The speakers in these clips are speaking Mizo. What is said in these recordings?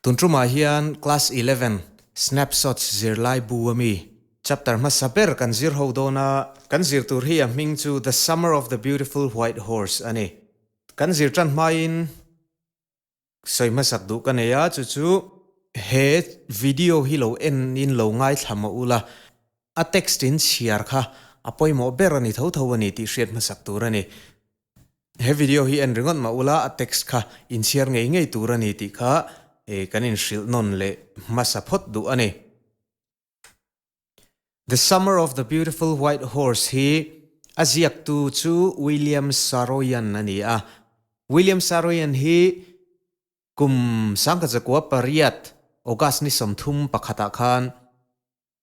Tun tumah hian Class Eleven Snapshots zirlai bu a mi chapter hmasa ber kan zir ho dawn a. Kan zir tur hi a hming chu The Summer of the Beautiful White Horse a ni. Kan zir tan hmain sawi hmasak duh ka nei a, chu chu he video hi lo en in lo ngaithla mah ula, a text in chhiar kha a pawimawh ber a ni tho tho a ni tih hriat hmasak tur a ni. He video hi en ri ngawt mah ula a text kha inchhiar ngei ngei tur a ni tih kha kan inhrilh nawn leh hmasa phawt duh a ni. The Summer of the Beautiful White Horse hi a ziaktu chu William Saroyan a ni a. William Saroyan hi kum Sangkhatzakua pariat August ni sawmthum pakhatah khan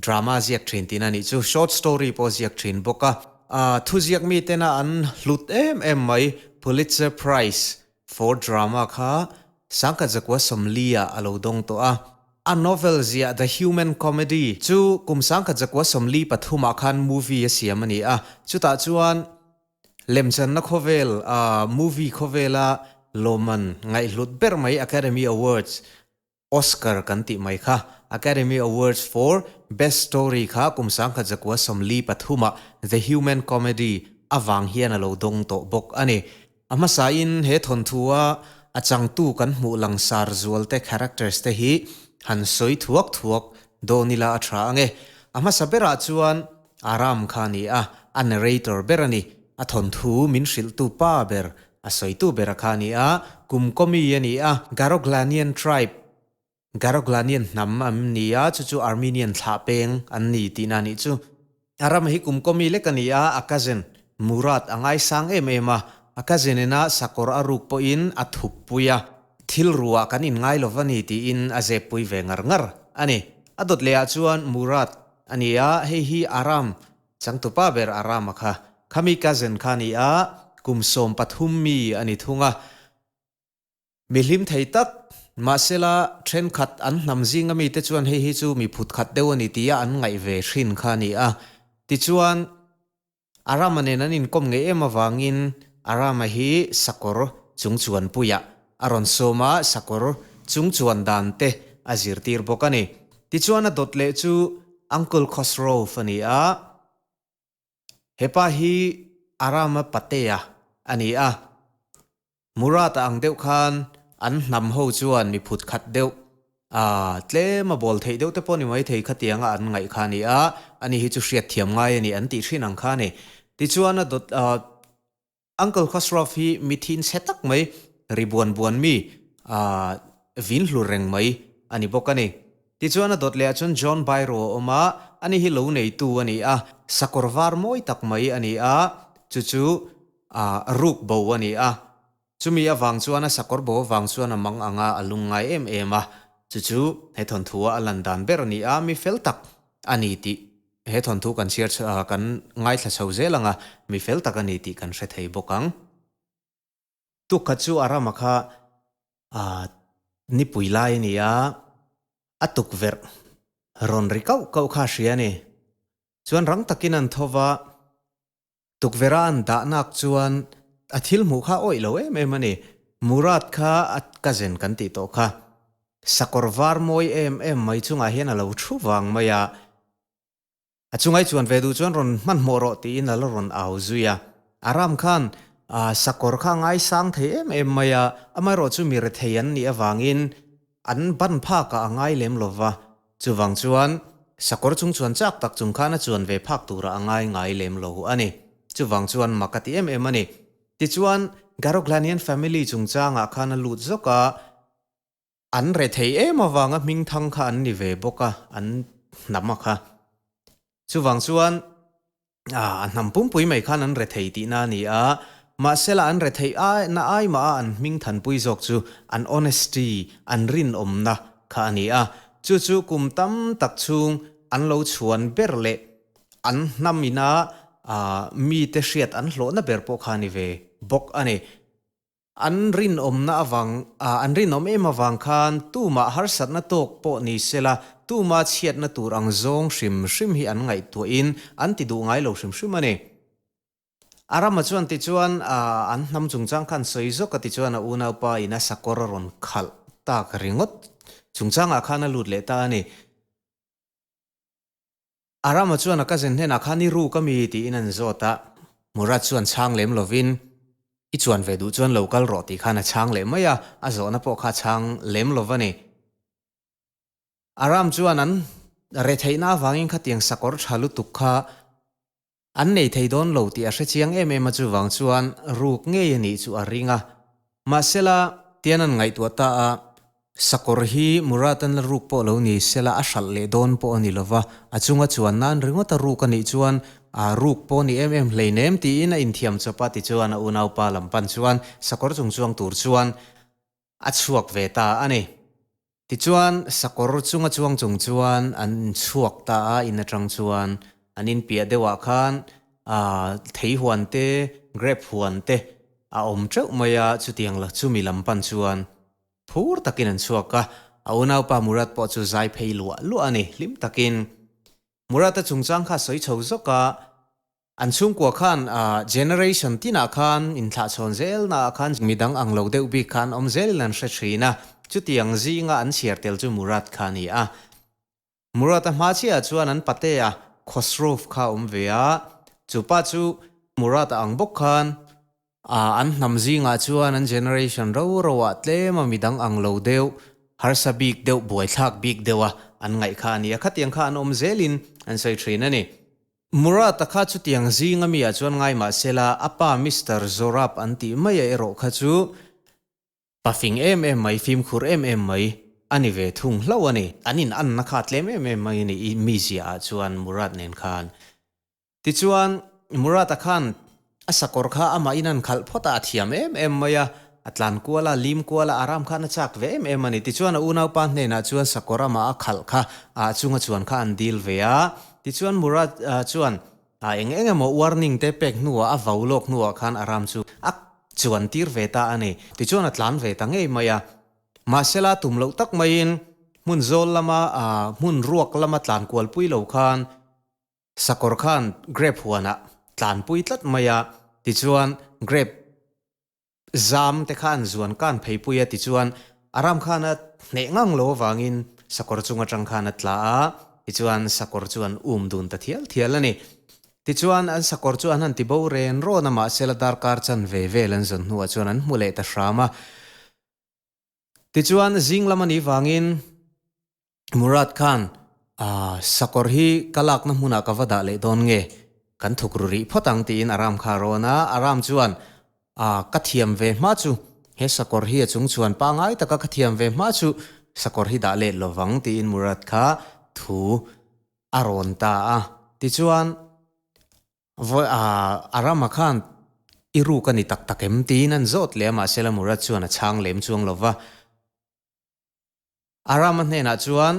Drama ziak thin tihna nih chu short story pawh a ziak thin bawk a. Thuziak mitena an hlut em em mai. Pulitzer Prize for Drama kha Sangkhat Zakua Somlia a lo dawng tawh a. A novel ziah The Human Comedy chu kum Sangkhat Zakua Somli pathumah khan movie a siam a ni a. Chutah chuan lemchanna khawvel, movie khawvela lawmman ngaihhlut ber mai Academy Awards Oscar kan tih mai kha, Academy Awards for Best Story kha kum sangkhat zakua sawmli pathuma The Human Comedy avang hian a lo dawng tawh bawk a ni. A hmasain he thawnthuaa a changtu kan hmuh langsar zualte, characters, te hi han sawi thuak thuak dawn ila a tha ange. A hmasa berah chuan Aram kha a ni a, a narrator ber a ni, a thawnthu min hrilhtu pa ber A sawitu bera kha ni a, Kumkomi a ni a, Garoglanian tribe, Garoglanian hnam an ni a, chu chu Armenian thlah peng an ni tihna a nih chu. A ram hi Kumkomi lek a ni a, a cousin Murat a ngaisang em em a, a cousin ina sakawr a ruk pawhin a thukpui a, thil ruah kan in ngai lo va ni tiin a zepui ve ngar ngar a ni. A dawt leh ah chuan Murat a ni a, hei hi Aram Changtupa ber a ram a kha. Khami cousin kha ni a, kum sawm pathum mi a ni thung a. Mi hlim thei tak. Mahsela, thenkhat an hnam zinga mite chuan hei hi chu mi phutkhat deuh a ni tia an ngaih ve hrin kha ni a. Tichuan, a rama nen an inkawm ngei em avangin a rama hi sakawr chungchuanpuiah A rawn sawm a, sakawr chung chuan dan te a zirtir bawk a ni. Tichuan a dawt leh chu Uncle Khosrov a ni a. Hepa hi Arama patea a ni a. Murat a ang deuh khan an hnam ho chuan miphut khat deuh, ah, tlema bawl theih deuh te pawh ni mai thei kha tianga an ngaih kha a ni a. Ani hi chu hriatthiam ngai a ni an tih hrin ang kha a ni. Tichuan a dawt, ah, Uncle Khosraw hi mithi inchhe tak mai, ri buan buan mi, aah, vin hlur reng mai a ni bawk a ni. Tichuan a dawt leh ah chuan John Bairo a awm a, a ni hi lo neitu a ni a, sakawr var mawi tak mai a ni a, chu chu, aah, ruk bo a ni a. Chumi avang chuan a sakawr bo avang chuan a mang ang a, a lung ngai em em a, chu chu he thawnthu a a lan dan ber a ni a, mi fel tak a ni tih He thawnthu kan chhiar chh ah kan ngaithla chho zel ang a, mi fel tak a ni tih kan hre thei bawk ang. Tukhat chu a ram a kha ahh nipui lai a ni a, a tukverh rawn ri kauh kauh kha a hria a ni. Chuan rang takin an tho va, Tukverhan dahnak chuan a thil hmuh kha awih lo em em a ni. Murad kha a cousin kan tih tawh kha, sakawr var mawi em em mai chungah hian a lo thu vang mai a, a chu ngaihchuan ve duh chuan rawn hmanhmawh rawh tiin a la rawn au zui a. Aram khan sakawr kha a ngaisang thei em em mai a, amaherawhchu mi rethei an nih avangin, An ban phakah a ngai lem lo va, chuvang chuan sakawr chung chuan chak tak chung khan a chuan ve phak turah a ngai ngai lem lo a ni. Chuvang chuan mak a ti em em a ni. Tichuan, Garoglanian family chungchangah khan a lut zawk a, an rethei em avanga hming thang kha an ni ve bawk a, an hnam a kha. Chuvang chuan ah a hnam pumpui mai khan an rethei tihna a ni a, mahsela an rethei ai na ai maha an hming thanpui zawk chu an honesty, an rinawmna, kha a ni a, chu chu kum tam tak chhung an lo chhuan ber leh an hnam ina ah mite hriat an hlawhna ber pawh kha a ni ve bawk a ni. An rinawmna avang, ah, an rinawm em avang khan tumah harsatna tawk pawh ni sela, tuma chhiatna tur ang zawng hrim hrim hi an ngaihtuahin an ti duh ngai lo hrim hrim a ni. A rama chuan tichuan, ah, an hnam chungchang khan sawi zawk a tichuan a unaupa ina sakawr a rawn khalh tak ringawt chungchangah khan a lut leh ta a ni. A Rama chuan a cousin hnenah khan i ruk a mi tiin an zawt a, Murat chuan chhang lem lovin, I chuan ve duh chuan lo kal rawh tih khan a chhang leh mai a, a zawhna pawh kha a chhang lem lo va ni. A Ram chuan an reh theihna avangin khatiang sakawr tha lutuk kha An nei thei dawn lo tih a hre chiang em em a chuvang chuan ruk ngei a nih chu a ring a. Mahsela, tian an ngaihtuah ta a, sakawr hi Murat an la ruk pawh lo ni sela a hralh leh dawn pawh a ni lova, a chunga chuan nan ringawt a ruk a nih chuan aa ruk pawh ni em em hleinem tiin a inthiam chawp a tichuan a unaupa lam pan chuan sakawr chungchuang tur chuan A chhuak ve ta a ni. Tichuan, sakawr chung a chuang chung chuan an chhuak ta a, in atang chuan an in piah deuhah khan ahh thei huan te, grape huan te a awm teuh mai a, chutiang la chu mi lam pan chuan phur takin an chhuak a. A unaupa Murat pawh chu zai phei luah luah a ni hlim takin. Murat-a chungchang kha a sawi chho zawk a. An chhungkua khan generation tinah khan inthlahchhawn zelnaah khan midang ang lo deuh bik kha an awm zelin an hre thin a, chutiang zinga an chhiar tel chu Murad kha a ni a. Murad-a hma chiahah chuan an patea Khosrow kha a awm ve a, chu pa chu Murad a ang bawk khan A an hnam zingah chuan an generation ro roah tlema midang ang lo deuh, harsa bik deuh, buaithlak bik deuha an ngaih kha a ni a, khatiang kha an awm zelin an sawi thin a ni. Murat-a kha chutiang zinga mia chuan ngai mah sela a pa Mister Zorab an tih maia erawh kha chu pa fing em em mai, fimkhur em em mai a ni ve thung hlauh a ni. An inanna kha a tlem em em mai a ni, i mizia-ah chuan Murat nen khan Tichuan, Murata khan a sakawr kha amah in a han khalh phawt a, a thiam em em mai a, a tlan kual a, a lim kual a, Aram khan a chak ve em em a ni. Tichuan, a unaupa hnenah chuan sakawr amah a khalh kha a chunga chuan kha an dil ve a. Tichuan, Murat chuan eng eng emaw warning te pek hnuah, a vau lawk hnuah khan Aram chu a chuan tir ve ta a ni. Tichuan, a tlan ve ta ngei mai a. Mahsela, tum loh tak maiin hmun zawl lama, hmun ruak lama tlan kual pui lo khan Sakawr khan grape huanah tlanpui tlat mai a, tichuan grape zam te khan zuan kan phei pui a, tichuan a ram khan a hneh ngang lo avangin sakawr chung atang khan a tla a, tichuan sakawr chu an um dun ta thial thial a ni. Tichuan an sakawr chu an han ti bo ren rawn a, mahsela darkar chan ve vel an zawn hnuah chuan an hmu leh ta hram a. Tichuan zing lam a nih vangin Murad khan, Aah, sakawr hi ka lakna hmunah ka va dah leh dawn nge, kan thuk ru rih phawt ang, tiin Aram kha a rawn a. Aram chuan, Aah, ka thiam ve hma chu, he sakawr hi a chungchhuan pangai taka ka thiam ve hma chu, sakawr hi dah let lo vang, tiin Murad kha thu a rawn ta a. Tichuan Vawi a, a rama khan i ruk a ni tak tak em? tiin an zawt leh a mahse la Murat chuan a chhang lem chuang lo va. A rama hnenah chuan,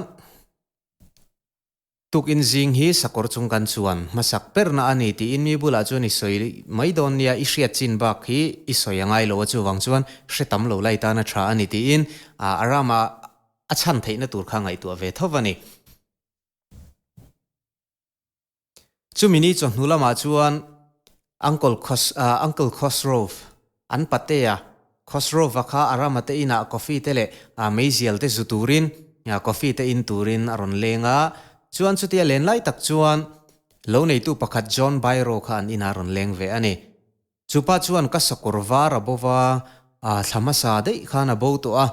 Tuk in zing hi sakawr chung kan chuan hmasak perna a ni tiin mi bulah chuan i sawi mai dawn nia, i hriat chin bak hi i sawi a ngai lo a chuvang chuan hre tam lo lai tana tha a ni tiin a, a rama a chhan theihna tur kha ngaihtuah ve tho a ni. Chumi ni chuan hnu lamah chuan Uncle Khos, Uncle Khosrove, an pate a, Khosrove-a kha a ram ate inah coffee te leh meizial te zu turin coffee te in turin a rawn leng a. Chuan chutia len lai tak chuan lo neitu pakhat John Byro kha an inah a rawn leng ve a ni. Chupa chuan ka sakawr var a bo va, aa thla hmasa daih khan a bo tawh a,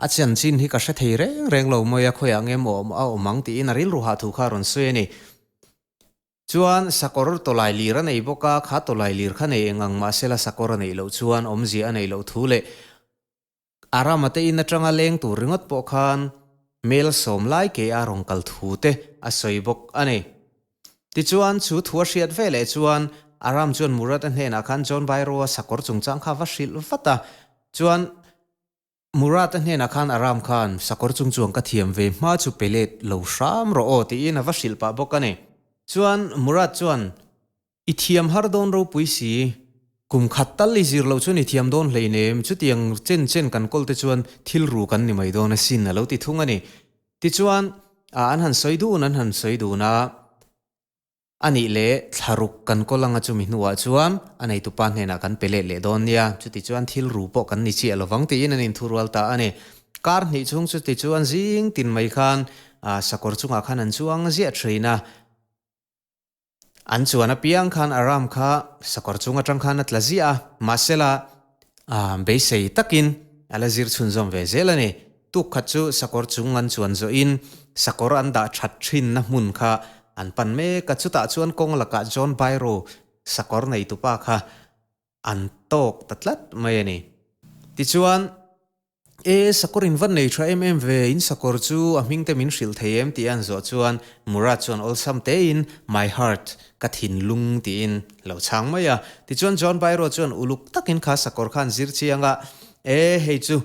a chian chin hi ka hre thei reng reng lo mawi a, khawiah ngem awm a awm ang tiin a rilru hah thu kha a rawn sawi a ni. Chuan sakawr tawlai lir a nei bawk a, kha tawlai lir kha nei eng ang mahsela sakawr a neih loh chuan awmzia a neih loh thu leh Aram a tein atanga leng tur ringawt pawh khan hmel sawm lai ke a rawn kal thu te a sawi bawk a ni. Tichuan, chu thu a hriat ve leh chuan Aram chuan Murat-a hnenah khan John Bairro-a sakawr chungchang kha va hrilh vat a, chuan Murat-a hnenah khan Aram khan sakawr chung chuan ka thiam ve hma chu pe let lo hram rawh aw tiin a va hrilh pah bawk a ni. Chuan Murat chuan I thiam har dawn ropui si. Kum khat tal i zir loh chuan i thiam dawn hlein em? Chutiang chen chen kan kawl te chuan thil ru kan ni mai dawn asin, a lo ti thung a ni. Tichuan, ah, an han sawi dun, an han sawi dun a, a nih leh thla ruk kan kawl ang a, chumi hnuah chuan a neitupa hnenah kan pe let leh dawn nia, chutichuan thil ru pawh kan ni chiah lovang tiin an inthu rual ta a ni. Kar hnih chhung chu tichuan zing tin mai khan, ah, sakawr chungah khan an chuang ziah thin a. An chuan apiang khan Aram kha sakawr chhung atang khan a tla ziah a, mahsela, aa, beisei takin a la zir chhunzawm ve zel a ni. Tuk khat chu sakawr chung an chuan zawhin sakawr an dah that thinna hmun kha an pan mek a. Chutah chuan kawng lakah John Bairro sakawr neitupa kha An tawk ta tlat mai a ni. Tichuan, E, sakawr in va nei tha em em ve, in sakawr chu a hming te min hrilh thei em? tih a an zawh chuan Murat chuan awlsam tein My heart, ka thinlung tiin lo chhang mai a. Tichuan John Bairo chuan uluk takin kha sakawr khan zir chiang a, E, hei chu.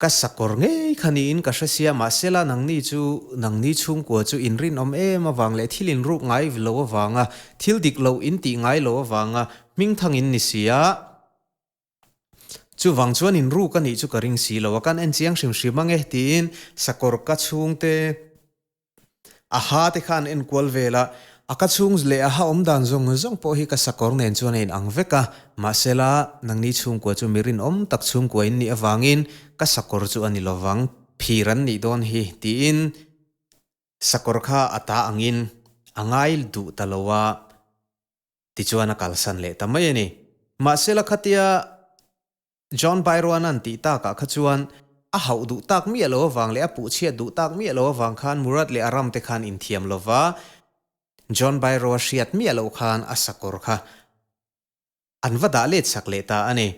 Ka sakawr ngei kha niin ka hresia mahsela nangni chu nangni chhungkua chu inrinawm em avang leh thil inruk ngai lo avanga, thil dik lo intih ngai lo avanga hming thangin ni si a, chuvang chuan inruk anih chu ka ring si lo a, kan enchiang hrim hrim ang e tiin sakawr ka chhungte A ha te kha an enkual vel a, a ka chhung leh a ha awm dan zawng zawng pawh hi ka sakawr nen chuan a inang vek a, mahse la nangni chhungkua chu mi rinawm tak chhungkua in nih avangin ka sakawr chu a ni lovang, phir an nih dawn hi tiin sakawr kha a ta angin a ngai duh ta lo a tichuan a kalsan leh ta mai a ni. Mahse la khatia John Bairuanan tih takah kha chuan a hauh duh tak miah lo avang leh a puh chhiat duh tak miah lo avang khan Murad leh a ram te khan in thiam lo va, John Bairua hriat miah loh khan a sakawr kha an va dah let chak leh ta a ni.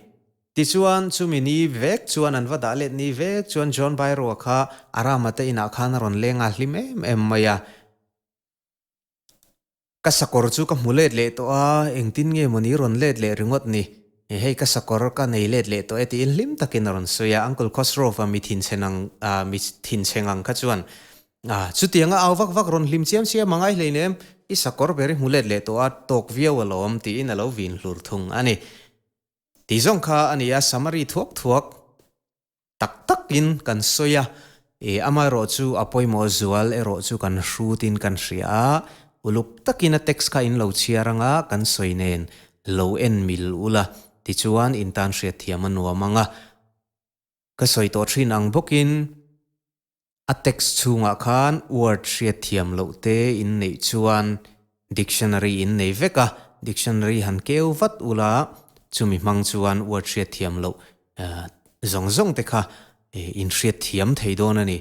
Tichuan chumi ni vek chuan an va dah let ni vek chuan John Bairua kha a rama te inah khan a rawn leng nghal hlim em em mai a. Ka sakawr chu ka hmu let leh tawh a, engtin nge mawni rawn let leh ringawt ni? He hei ka sakawr ka nei let leh tawh e tiin hlim takin a rawn sawi a, Uncle Khosrow-a mithin chhen ang ah mithin chheng ang kha chuan ah chutiang a au vak vak rawn hlim chiam chiam a, ngai hlein em i sakawr ber i hmu let leh tawh a, tawk viau alawm tiin a lo vin hlur thung a ni. Ti zawng kha a ni a, summary thuak thuak. tak takin kan sawi a, i amaherawh chu a pawimawh zual erawh chu kan hrutin kan hria a, uluk takin a text kha in lo chhiar anga kan sawi nen lo en mil ula tichuan in tan hriat thiam a nuam ang a, ka sawi tawh thin ang bawkin A text chhungah khan word hriatthiam loh te in neih chuan dictionary in nei vek a, dictionary han keu vat u la, chumi hmang chuan word hriatthiam loh zawng zawng te kha in hriatthiam thei dawn a ni.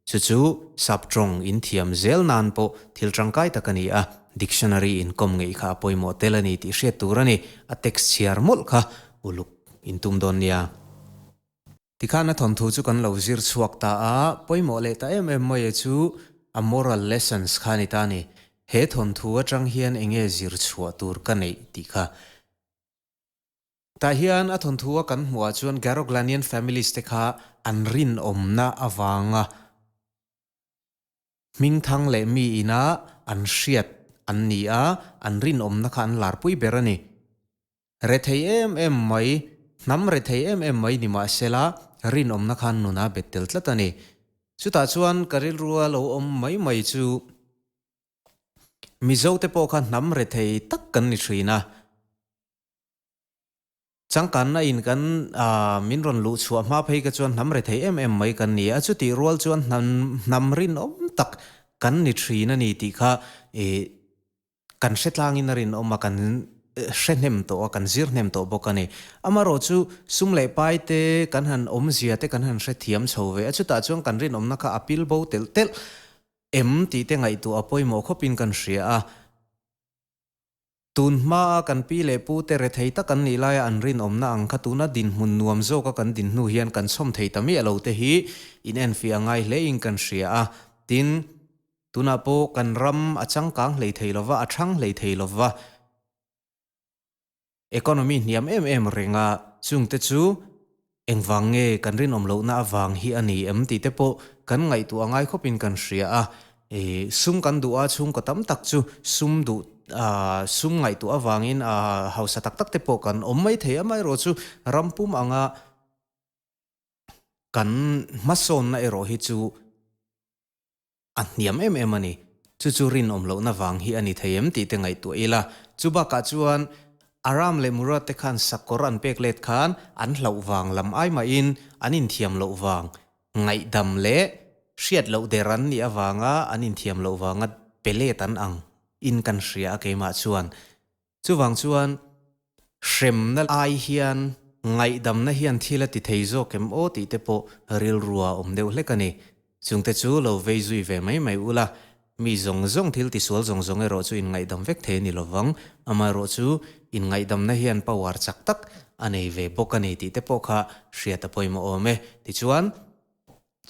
Chu chu sub tawng in thiam zel nan pawh thil tangkai tak a ni a, dictionary in kawm ngeih kha a pawimawh tel a ni tih hriat tur a ni. A text chhiar mawlh kha uluk in tum dawn nia. Tikhan a thawnthu chu kan lo zir chhuak ta a, pawimawh leh ta em em mawia chu a moral lessons kha a ni ta a ni. He thawnthu atang hian enge zir chhuah tur ka neih tih kha. Tah hian a thawnthu a kan hmuh ah chuan Garoglanian families te kha an rinawmna avanga hming thang leh mi ina an hriat an ni a, an rinawmna kha an lar pui ber a ni. Re thei em em mai, hnam re thei em em mai nimahsela rinawmna khan nuna bet tel tlat a ni. Chutah chuan ka rilrua lo awm mai mai chu Mizo te pawh kha hnam re thei tak kan ni thin a. Changkanna in kan min rawn luh chhuah hma phei ka chuan hnam re thei em em mai kan ni a, chutih rual chuan hnam rinawm tak kan ni thin a ni tih kha kan hretlangin a rinawm a, kan hrehnem tawh a, kan zirhnem tawh bawk a ni. Amarawh chu, sum leh pai te, kan han awmzia te kan han hrethiam chho ve a, chutah chuan kan rinawmna kha a pil bo telh telh em tih te ngaihtuah a pawimawh khawpin kan hria a. Tun hmaa kan pi leh pu te rethei tak an nih laia an rinawmna ang kha tuna dinhmun nuam zawka kan din hnu hian kan chhawm thei ta miah lo te hi inenfiah ngai hlein kan hria a. Tin. Tunah pawh kan ram a changkang hlei thei lo va, a ṭhang hlei thei lo va. Economy hniam em em renga chungte chu engvang nge kan rinawm lohna avang hi a ni em tihte pawh kan ngaihtuah a ngai khawpin kan hria a. Sum kan duh a, chhungkaw tam tak chu sum duh sum ngaihtuah avangin hausa tak tak te pawh kan awm mai thei. Amaherawh chu ram pum anga kan hmasawnna erawh hi chu a hniam em em a ni. Chu chu rinawm lohna vang hi a ni thei em tih te ngaihtuah ila, chu bakah chuan Aram leh Murad te khan sak kawr an pek let khan an hlauh vang lam ai mahin an inthiam loh vang ngaihdam leh hriat loh der an nih avanga an inthiam loh vanga pe let an ang in kan hria a keimah chuan Chuvang chuan hremna lai hian ngaihdamna hian thil a ti thei zawk em aw tih te pawh rilru ah awm deuh hlek a ni. Chungte chu lo vei zui ve mai mai ula, mi zawng zawng thil tisual zawng zawng erawh chu inngaidam vek thei a ni lovang. Amaherawh chu inngaidamna hian power chak tak a nei ve bawk a ni tih te pawh kha hria ta pawimawh awm e. Tichuan,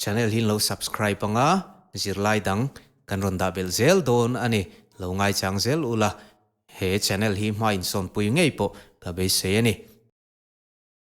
Channel hi lo subscribe anga zirlai dang kan rawn dah belh zel dawn a ni, lo ngaichang zel ula, he channel hi hma insawnpui ngei pawh ka beisei a ni.